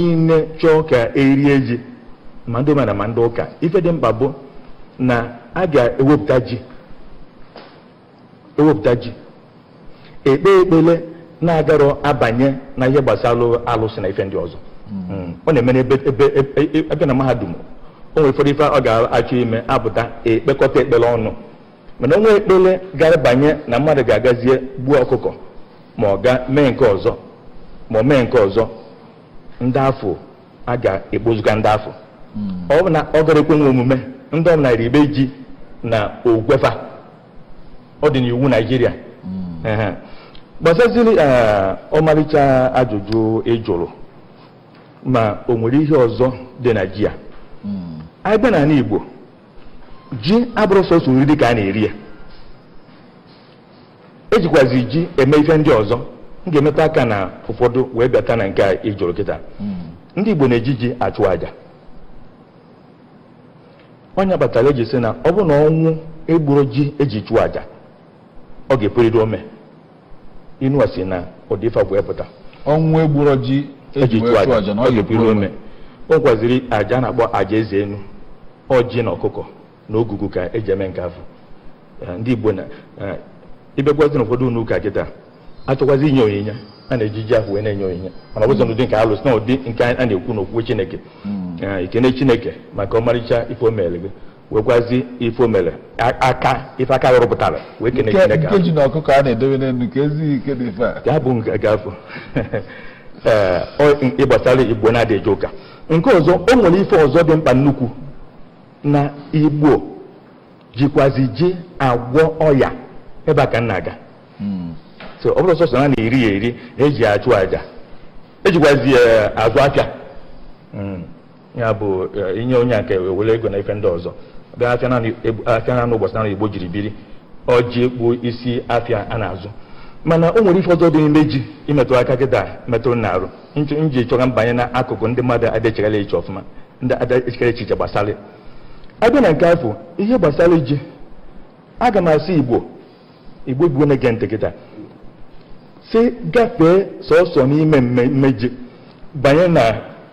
niile chọọ ka erie ji ma ndị omenala ma ndị ụka ife dị mkpa bụ na a ga-ewepụta ji ewepụta ji ekpe ekpele na-agarọ abanye na ihe gbasara alụsị na ife ndị ọzọ hmm. ọ na-eme n'ebe ebe ebe na mahadum o nwere ụfọdụ ife a ga-achọ ime apụta ekpekọta ekpele ọnụ mana onwe ekpele agarọ abanye na mmadụ ga-agazie gbuo ọkụkọ ma ọ ga mee nke ọzọ ma ọ mee nke ọzọ ndị afụ a ga-ekpozuga ndị afụ hmm. ọ bụ na ọ garọ ekwenwu omume ndị ọbụla ribe ji na ogwe fa ọ dị n'iwu naijiria hmm. gbasaziri eh, ọmalịcha ajụjụ ị jụrụ ma o nwere ihe ọzọ dị na ji a hmm. anyị bịa n'anị igbo ji abụrọ sọsọ nri dị ka a na-eri ya ejikwazi ji eme ife ndị ọzọ m ga-emetụ aka na ụfọdụ wee bịata na nke a ị jụrụ kịta ndị Igbo na-eji ji achụ aja ọ ya kpatara eji sị na ọ bụrụ na ọnwụ egburọ ji eji chụọ aja ọ ga-epurịrị ome inu a sị na ụdị ife bụ epụta ọnwụ egburọ ji eji chụọ aja ọ ga-epurịrị ome o nwekwaziri aja a na-akpọ aja eze enu ọjị na ọkụkọ na ogugu ka eji eme nke afụ Eh, ndị igbo na eh, ịbịakwazi na ụfọdụ ụnọ ụka kịta achọkwazi inye onyinye a na-eji ji afụ wee na-enye onyinye mana ọ bụzirọ n'ụdị nke alụsị na ụdị nke a na-ekwu n'okwu chineke Eh, ikene chineke maka ọmarịcha ife o meere gị wekwazi ife o mere aka ife aka rụpụtara wee kene Chineke nke ji na ọkụkọ a na-edobe n'elu ka ezi ike dị ife a ya bụ nke afụ gbasara igbo na-adị eje ụka nke ọzọ o nwere ife ọzọ dị mkpa nnukwu na igbo jikwazi ji agwọ ọya ebe a ka m na-aga hmm. so ọ bụrọ sọsọ na a na-eri ya eri eji achụ aja ejikwazi eh, azụ afịa hmm. ya bụ eh, inye onye nke were ego na ife ndị ọzọ bịa afịa naanị egbu- afịa naanị ụbọchị naanị igbo jiri biri ọ ji bụ isi afịa a na-azụ mana o nwere ife ọzọ dị n'ime ji imetụ aka kịta metụrụ na arụ m ji chọọ ka m banye na akụkụ ndị mmadụ adịchegara eche ọfụma ndị adịchegara echiche gbasara ya. abịa na nke afụ ihe gbasara ji aga m asị igbo bụ igbo na-ege ntị kịta si gafee sọsọ n'ime mmemme ji banye na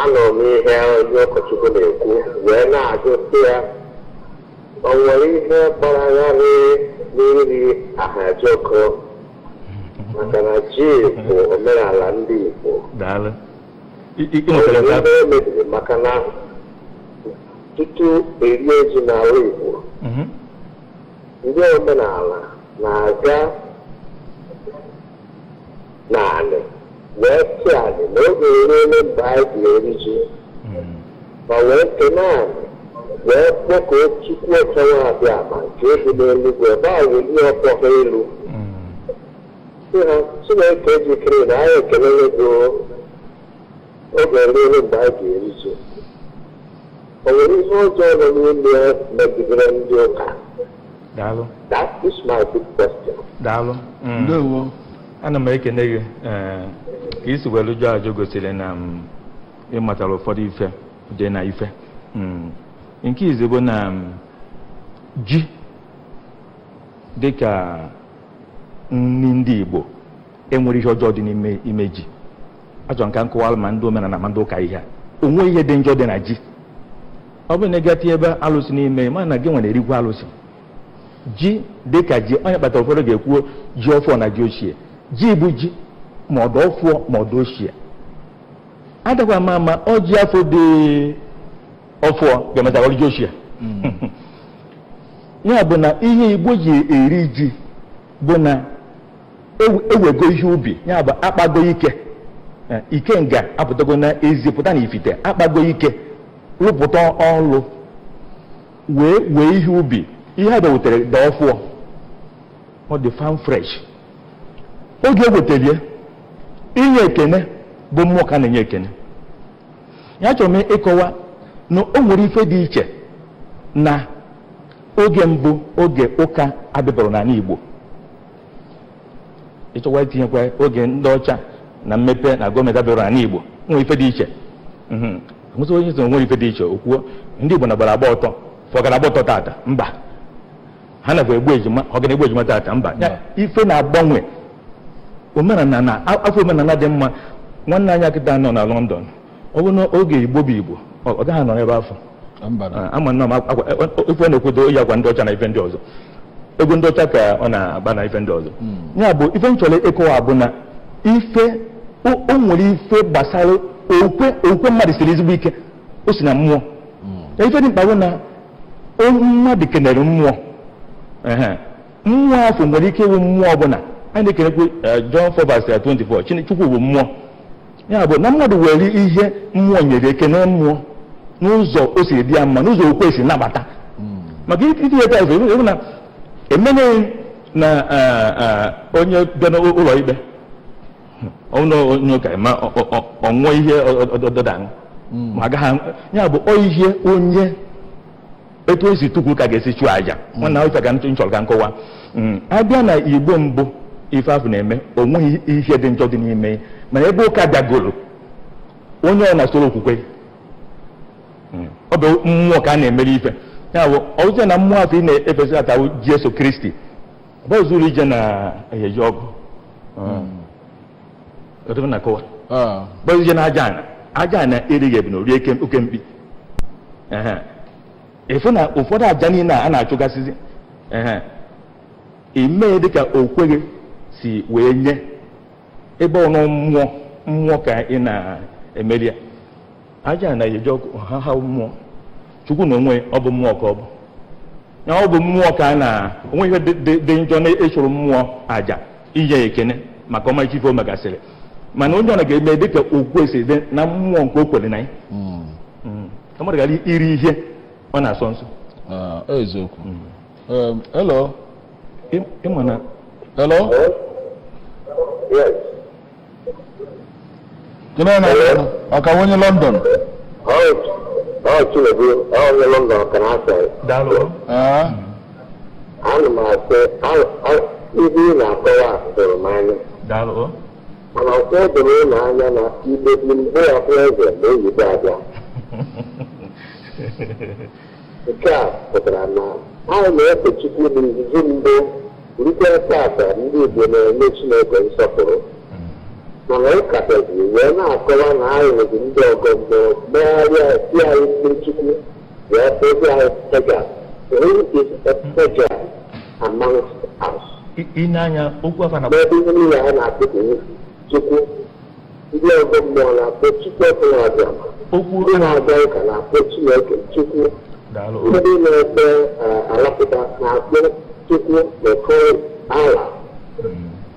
anụrụ m ihe onye ụkọchukwu na-ekwu wee na-ajụ sị ya o nwere ihe gbara gharịị n'iri ahịajọkụ maka na ji bụ omenala ndị Igbo daalụ I- i- ị nwetara nke ebe ahụ? o mebiri maka na tutu erie ji n'ala Igbo Mhm. ndị omenala na-aga n'anị wee sị anị na oge eruole mgbe anyị ga-eri ji ma wee kene anị wee kpọkuo Chukwu ọchọwa Abịama nke bi n'eluigwe ebe a welie ọkpọ ha elu sị ha Chineke jikere na anyị ekelele gị o. oge eruole mgbe anyị ga-eri ji o nwere ihe ọjọọ nọ n'ime ya megidere ndị ụka daalụ That is my big question. daalụ Mm. ndewo ana m ekene gị ee, ka i si welu jụọ ajụ gosiri na m ị matara ụfọdụ ife dị na ife Mm. nke izi bụ na m, ji dịka nri ndị igbo enwere ihe ọjọọ dị n'ime ime ji achọrọ m ka m kọwalụ ma ndị omenala ma ndị ụka ihe a o nwe ihe dị njọ dị na ji ọ bụrụ na ị ga-etinye ebe alụsị n'ime ma na gị nwere erikwa alụsị ji dị ka ji ọ ya kpatara ụfọdụ ga-ekwuo ji ọfụọ na ji ochie ji bụ ji ma ọ dị ọfụọ ma ọ dị ochie adakwa ama ama ọ ji afọ dị ọfụọ ga-emecha bụrụ ji ochie ya bụ na ihe igbo ji eri ji bụ na ewego ihe ubi ya bụ akpago ike eh, ikenga apụtago na ezi pụta na ifite akpago ike rụpụta ọlụ wee wee ihe ubi ihe a bịa wetere dị ọfụọ ọ dị farm fresh oge e wetalie inye ekene bụ mmụọ ka a na-enye ekene ya achọrọ m ịkọwa na o nwere ife dị iche na oge mbụ oge ụka abịabara n'ana Igbo ị chọkwa itinyekwa oge ndị ọcha na mmepe na gọọmenti bịara n'ana Igbo nwere ife dị iche mhm. mụta onye so nwere ife dị iche ọ kwa ndị Igbo na-agbara agba ọtọ fa ọ ga na-agba ọtọ tata mba ha nakwa egbu ejima ọ ga na-egbu ejima tata mba ife na-agbanwe omenana na-afọ omenana dị mma nwanne anyị akịta nọ na London ọ bụ na oge igbo bụ igbo ọ gaghị anọ n'ebe afọ ama nna m ife na-ekwedo o yi akwa ndị ọcha na ife ndị ọzọ egwu ndị ọcha ka ọ na-agba na ife ndị ọzọ hmm. ya bụ ife m chọrọ ịkọwa bụ na ife o nwere ife gbasara okwe okwe mmadụ siri ezigbo ike o si na mmụọ hmm. ife dị mkpa bụ na mmadụ kenere mmụọ mmụọ afọ nwere ike ịwụ mmụọ ọbụla a na-ekenekwe eh, John 4 24 Chukwu bụ mmụọ ya bụ na mmadụ were ihe mmụọ nyere ekene mmụọ n'ụzọ o si dị ya mma n'ụzọ okwe si nabata maka iti ya taịs ị hụ na emeneghị na eh, eh, onye bịa n'ụlọ ikpe ọ bụ onye ụka ma ọ- ọ- ọ- ọ ṅụọ iyi ọdọda ya bụ ọ ihe onye etu esi tukwu ka ga-esi chụọ aja nwanna ife ka nchọrọ ka nkọwa mm, abịa na igbo mbụ ife afụ na-eme o nweghị ihe dị njọ dị n'ime ya mana ebe ụka bịagoro onye ọna soro okwukwe ya mm, ọ bụ mmụọ ka a na-emere ife ya bụ ọzọ na mmụọ afụ ị na-efezi tata bụ jesu kristi ọ bụ zuru ije na eheji ọgụ mm. bụzi na aja ana aja ana erighị ebunu orie oke mkpi ịfụ na ụfọdụ aja niile a na-achụgasịzi imee dịka okwukwe gị si wee nye ebe ọnụ mmụọ mmụọ ka ị na-emere ya aja ana eji ọkụ ha ha mmụọ chukwu na onwe ya ọ bụ mmụọ ka ọ bụ na ọ bụ mmụọ ka a na o nweghị ihe dị njọ na ịchụrụ mmụọ aja inye ya ekene maka ọmarịcha ife o megasịrị mana onye ọna ga-eme dịka okwukwe si dị na mmụọ nke o kwere na ya Mm. ka mmadụ ghara iri ihe ọ na-asọ nsọ Ah, eziokwu Em, hello Ị- ịma na hello Yes. Kene na ọka onye London. Ọ Chinedu, ọ onye London ka na asọ. Daalụ. Ana m asị, ife ị na-akọwa doro m anya. Daalụ. Mana ka o doo unu anya na Igbo dị mbụ ya bụ eze na oyibo abịa. Nke a pụtara na anyị na-efe Chukwu n'izizi mbụ rute tata ndị Igbo na-enye Chineke nsọpụrụ mana ụka bịazi wee na-akọwa na anyị bụzi ndị ọgọ mmụọ megharịa si anyị mmiri Chukwu wee kpọzi anyị pagan who is a pagan amongst us I- ị na-anya okwu afa na n'ebe ihe niile anyị na-akpọku Chukwu Ndị ọgọ mmụọ na-akpọ Chukwu Okike Abịama. Okwu Ndị na-aga ụka na-akpọ Chineke Chukwu. Daalụ. Ndị na-ekpe eh, alakụba na-akpọ Chukwu nke ha Allah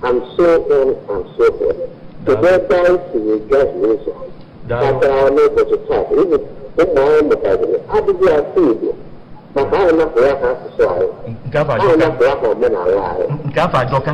and so on and so forth. Kedu ebe anyị siri gahie ụzọ? Daalụ. Kpatara n'ụbọchị taa bụ ụmụ ụmụ anyị mụtaziri adịghị asụ Igbo maka anyị napụrụ ha asụsụ anyị. Nke afụ Anyị ajọka. napụrụ ha omenala anyị. Nke afụ ajọka.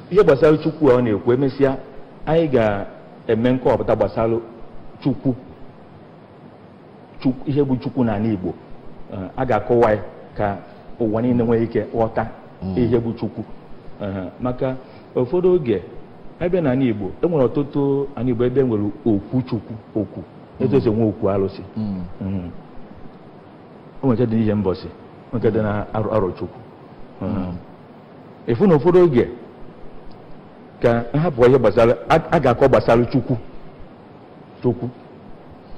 ihe gbasara chukwu a ọ na-ekwu emesịa anyị ga-eme nkọwapụta gbasara chukwu Chukwu- ihe bụ chukwu n'ala igbo Eh, a ga-akọwa ya ka ụwa niile nwee ike ghọta ihe bụ chukwu Eh, maka ụfọdụ oge abịa n'ala igbo e nwere ọtụtụ ala igbo ebe e nwere okwu chukwu okwu etu esi enwe okwu alụsị Mhm. o nwere nke dị n'ihembosi o nwere nke dị na arọ arọchukwu Mhm. ị fụ na ụfọdụ oge ka m hapụ ihe gbasara a ga-akọ gbasara chukwu chukwu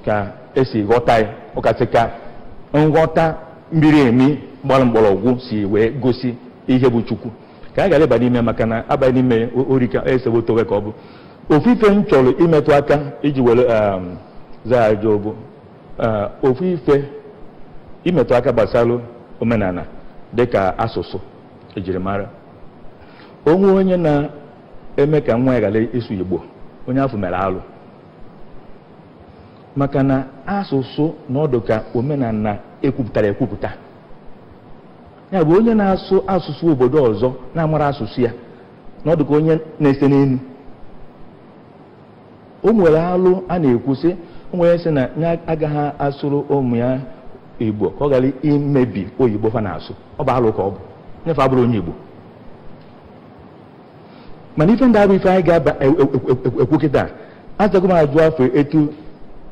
ka esi ghọta ya ọkasị ka nghọta miri emi gbara mgbọrọgwụ si wee gosi ihe bụ chukwu ka a ghara ịba n'ime maka na a baa n'ime orika esewo towe ka ọ bụ ofu ife m chọrọ imetụ aka iji were zaa ya ajụ ọ bụ Ee, ofu ife imetụ aka gbasara omenala dịka asụsụ ejirimara onwe onye na-eme ka nwa ya ghara ịsụ igbo onye afụ mere alụ maka na asụsụ na ọ dụ ka omenala ekwupụtara ekwupụta ya bụ onye na-asụ asụsụ obodo ọzọ na-amarọ asụsụ ya na ọ dụ ka onye na-ese n'elu o mere alụ a na-ekwu sị o wee sị na ya agaghị asụrụ ụmụ ya igbo ka ọ ghara imebi oyibo fa na-asụ ọ bụ alụ ka ọ bụ onye afụ abụrọ onye igbo mana ife ndị a abụrọ ife anyị ga-aba e- e- e- ekwu kịta azago m ajụ afụ etu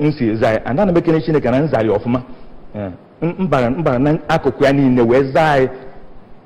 m si zaa ya ana m ekene chineke na m zarị ọfụma Eh, m- m bara m bara na akụkụ ya niile wee zaa ya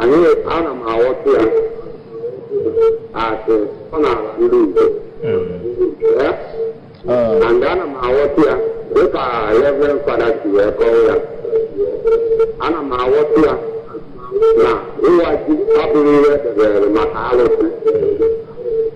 anyị ana m aghọta ya as omenala ndị Igbo and ana m aghọta ya dịka Reverend Fada si wee kọọ ya ana m aghọta ya na ịwa ji abụghị ihe edebere maka alụsị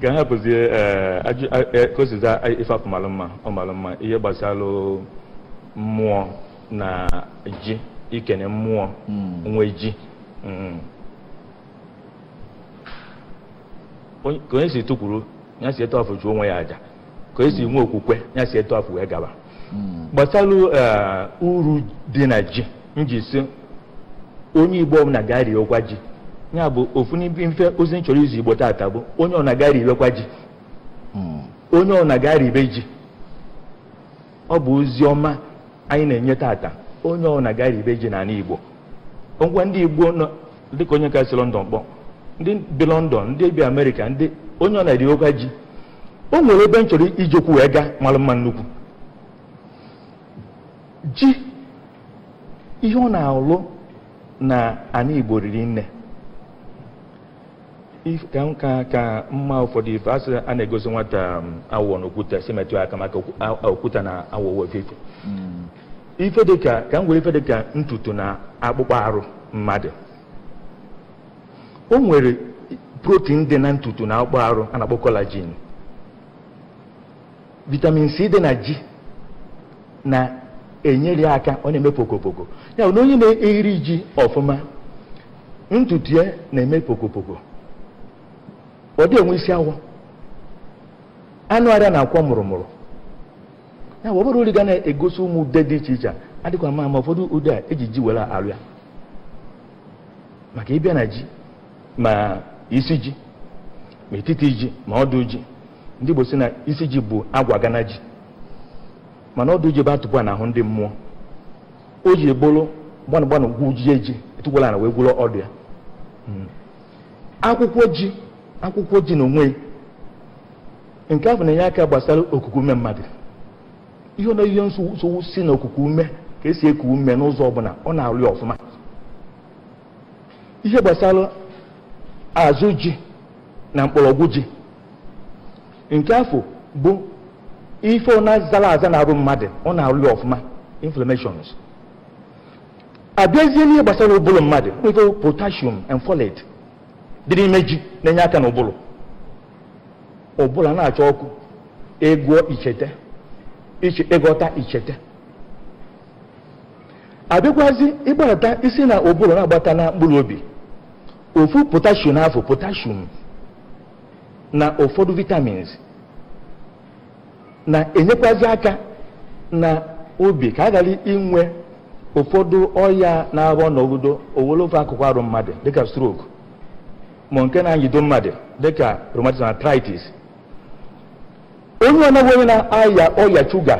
ka a hapụzie ka o si za ife afụ malụ mma ọ malụ mma ihe gbasara mmụọ na ji ikene mmụọ nwe ji ka onye si tukwuru ya si etu afụ chụọ onwe ya aja ka esi nwe okwukwe ya si etu afụ wee gaba gbasara eh, uru dị na ji m ji asị onye igbo ọbụla gaa riwekwa ji ya bụ ofu n'ime ozi m chọrọ izi igbo tata bụ onye ọbụna gaa ribekwa ji onye ọbụna gaa ribe ji ọ bụ ozi ọma anyị na-enye tata onye ọbụna gaa ribe ji n'ala igbo ngwa ndị igbo nọ dịka onye ka si London kpọ ndị bi London ndị bi amerịka ndị onye ọbụna riwekwa ji o nwere ebe m chọrọ iji okwu wee gaa mara mma nnukwu ji ihe ọ na-alụ na ana Igbo riri nne ka nka ka mma ụfọdụ ife a sị a na-egosi nwata um, awọ na okwute si metụ aka maka okwute na awọ ofu ife hmm. ife dịka ka m were ife dịka ntutu na akpụkpọ arụ mmadụ o nwere protein dị na ntutu na akpụkpọ arụ a na-akpọ collagen vitamin c dị na ji na-enyere ya aka ọ na-eme pokopoko ya bụ na onye na-eri ji ọfụma ntutu ya na-eme pokopoko ọ dị enwe isi awọ anụ arụ ya na-akwọ mụrụmụrụ ya bụ ọ bụrụ uri ga na-egosi ụmụ ude dị iche iche adịkwa mma ma ụfọdụ ude a eji ji were alụ ya maka ị bịa na ji ma isi ji ma etiti ji ma ọdụ ji ndị Igbo si na isi ji bụ agwa gana ji mana ọdụ ji bụ atụpụ a n'ahụ ndị mmụọ o ji ebolo gbanụ gbanụ gwujie ji etukwulu ana wee gwuru ọdụ ya hmm. akwụkwọ ji akwụkwọ ji na onwe nke afụ na-enye aka gbasara okuku ume mmadụ ihe na ihe nsogbu si na okuku ume ka esi eku ume n'ụzọ ọbụla ọ na-arụ ya ọfụma ihe gbasara azụ ji na mkpọrọgwụ ji nke afụ bụ ife ọbụna zara aza n'arụ mmadụ ọ na-arụ ya ọfụma inflammations abịazie n'ihe gbasara ụbụrụ mmadụ nwere potassium and folate dị n'ime ji na-enye aka n'ụbụrụ ụbụrụ na-acha ọkụ ị gụọ ichete ịghọta ichete abịakwazi ịgbata i si na ụbụrụ na-agbata na mkpụrụ obi ofu potassium afụ potassium na ụfọdụ vitamins na-enyekwazi aka na obi ka a ghara inwe ụfọdụ ọya na-abụ ọ nọgụdo o were ofu akụkụ arụ mmadụ dịka stroke ma nke na-anyido mmadụ dịka rheumatism arthritis onye ọbụna bụ onye na-aya ọya shuga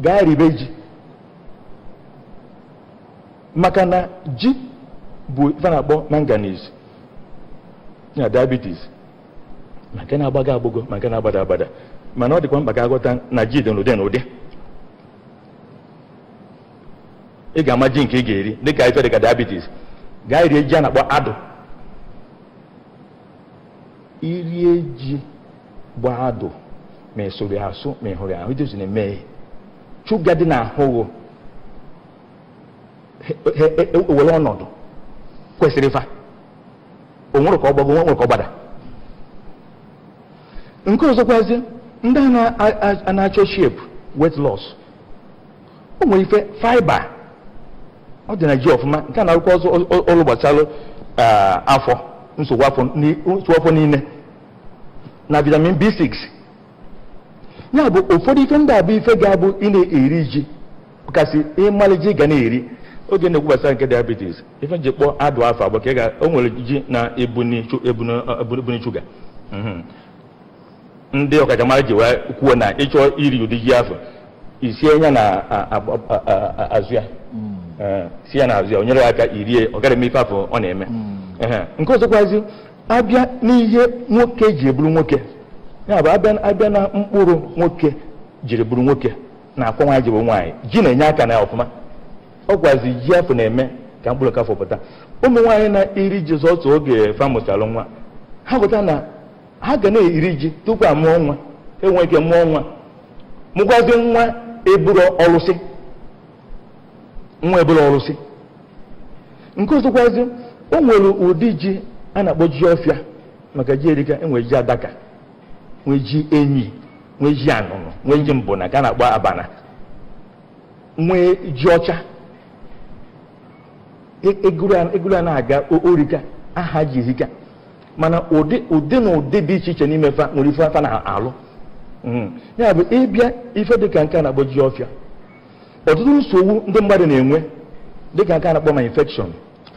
ga-aribe ji maka na ji bu ife a na-akpọ manganese na diabetes ma nke na-agbago agbago ma nke na-agbada agbada mana ọ dịkwa mkpa ka a ghọta na ji dị n'ụdị n'ụdị ị ga-ama ji nke ị ga-eri dịka ife dịka diabetes gaa rie ji a na-akpọ adụ i rie ji bụ adụ ma ị sụrụ asụ ma ị hụrụ ahụ ji na-eme shuga dị n'ahụ gụ ewere ọnọdụ kwesịrị fa o nwere ka ọ gbago o nwere ka ọ gbada nke ọzọkwazi ndị a na-achọ shape weight loss o nwere ife fiber ọ dị na ji ọfụma nke a na-arụkwa ọrụ gbasara afọ nsogbu afọ niile na vitamin B6 ya bụ ụfọdụ ife ndị a bụ ife ga-abụ ị na-eri ji kasị ịmalụ ji ga na-eri oge na-ekwu gbasara nke diabetes ife m ji kpọọ adụ afa bụ maka o nwere ji na-ebuni shuga mhm. ndị ọkachamara ji wee kwuo na ịchọọ iri ụdị ji afụ i sie ya na azụ ya hmm. eh, sie ya na azụ ya o nyere aka i rie ọ ghara ime ife afụ ọ na-eme hmm. nke ọzọkwazi abịa n'ihe nwoke jiri bụrụ nwoke ya bụ abịa na mkpụrụ nwoke jiri bụrụ nwoke na akwa nwaanyị ji bụ nwaanyị ji na-enye aka na ya ọfụma ọkwazi ji afụ na-eme ka mkpụrụ nke afụ pụta ụmụ nwaanyị na-eri ji sọsọ oge fa mụchalụ nwa ha ghọta na ha ga na-eri ji tupu a mụọ nwa enwe ike mụọ nwa mụkwazi nwa eburu ọlụsị nwa eburu ọlụsị nke ọzọkwazi o nwere ụdị ji a na-akpọ ji ọfịa maka ji erika enwere ji adaka nwee ji enyi nwee ji anụnụ nwee ji mbuna nke a na-akpọ abana nwee ji ọcha e, ị gụrụ ya na-aga o rika aha ji erika mana ụdị na ụdị dị iche iche n'ime fa nwere ife fa na-alụ hmm. ya bụ ịbịa ife dịka nke a na-akpọ ji ọfịa ọtụtụ nsogbu ndị mmadụ na-enwe dịka nke a na-akpọ ma infection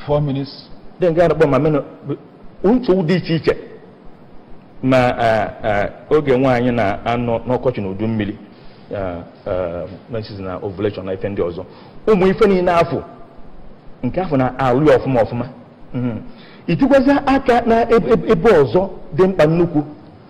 four minutes then nke a na-akpọ ma mena nsogbu dị iche iche ma oge nwaanyị na-anọ n'ọkọchị na udu mmiri menses na ovulation na ife ndị ọzọ ụmụ ife niile afụ nke afụ na-alụ ya ọfụma ọfụma itikwazi aka na ebe ọzọ dị mkpa nnukwu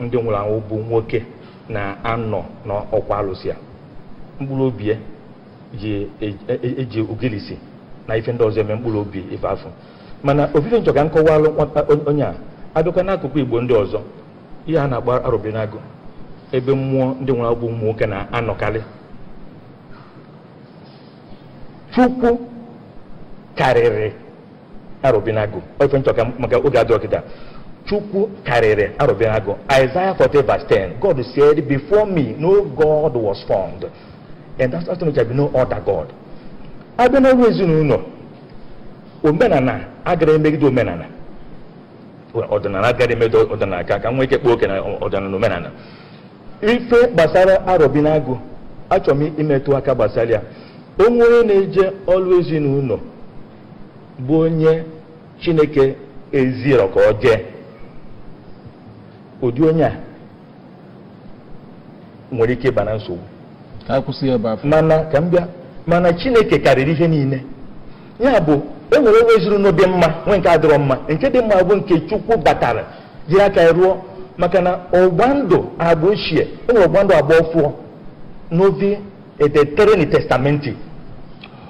ndị nwụrụ anwụ bụ nwoke na-anọ n'ọkwa alụsị a mkpụrụ obi ya ji e- e- eji ogilisi na ife ndị ọzọ eme mkpụrụ obi ife afụ mana ọ bụ ife m chọ ka m kọwalụ nwata on- onye a abịakwa n'akụkụ igbo ndị ọzọ ihe a na-agba arobinagụ ebe mmụọ ndị nwụrụ anwụ bụ ụmụ nwoke na-anọkarị chukwu karịrị arobinagụ ọ ife m chọ ka maka oge adịrọ kịta chukwu karịrị arobinagụ Isaiah 40 verse 10 God said before me no God was formed and that's why there be no other God abịa na ọrụ ezinụlọ omenala agarọ emegide omenala ọdịnala agarọ emegide ọdịnala ka e nwee ike kpaa oke na ọdịnala omenala ife gbasara arobinagụ achọrọ m imetụ aka gbasara ya onye na-eje ọrụ ezinụlọ bụ onye chineke ezirọ ka ọ jee ụdị onye a nwere ike ịba na nsogbu ka anyị kwụsị ya ebe afụ mana ka m bịa mana chineke karịrị ihe niile ya bụ e nwere ọrụ ezinụlọ dị mma nwee nke adịrọ mma nke dị mma bụ nke chukwu batara jiri aka ya rụọ maka na ọgba ndụ agba ochie e nwere ọgba ndụ agba ọfụọ novi et aeterni testamenti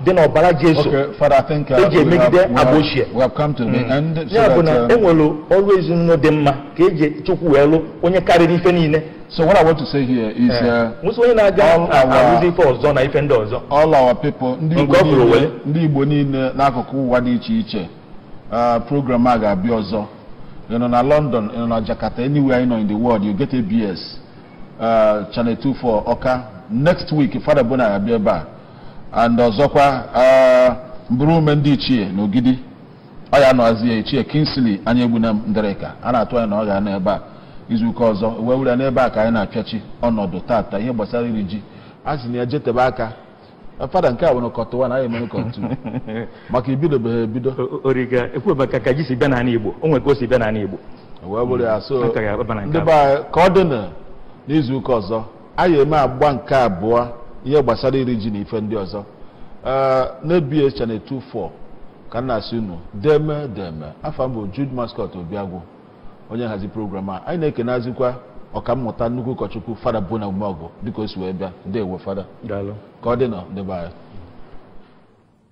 dị n'ọbara Jesu eji emegide agba ochie hmm. ya bụ na um, enwere ọrụ ezinụlọ dị mma ka eji Chukwu wee lụ onye karịrị ife niile So what I want to say here is eh. uh, all our all our people ndị Igbo niile n'akụkụ ụwa dị iche iche uh, program a ga-abịa ọzọ ị nọ na London ị nọ na Jakarta anywhere ị nọ in the world you get ABS uh, channel 24 Ọka next week Fada Bona ga-abịa ebe a and ọzọkwa ah, mbụrụ ume ndị ichie na Ogidi ọ ya nọzie ichie Kingsley Anyaegbunam Ndirika a na-atụ anya na ọ ga-anọ ebe a izuụka ọzọ wee were n'ebe a ka anyị na-apịachi ọnọdụ taata ihe gbasara iri ji a sị na ije tebe aka fada nke a nwere kọtụ wan anyị emere kọtụ maka ibidobeghị ebido origa ekwu maka ka ji si bịa n'ala Igbo o nwere ka o si bịa n'ala Igbo wee bụrụ ya so Aka ya ebe na nke ndị be anyị ka ọ dị na n'izuụka ọzọ anyị eme agba nke abụọ ihe gbasara iri ji na ife ndị ọzọ Ee, n'ABS channel 24 ka m na-asị unu deeme deeme afa m bụ Jude Mascot Obiagwu onye nhazi program a anyị na-ekenazikwa ọkammụta nnukwu ụkọchukwu fada Bona Umeọgụ dịka o si wee bịa ndewo fada daalụ ka ọ dị nụ ndị be anyị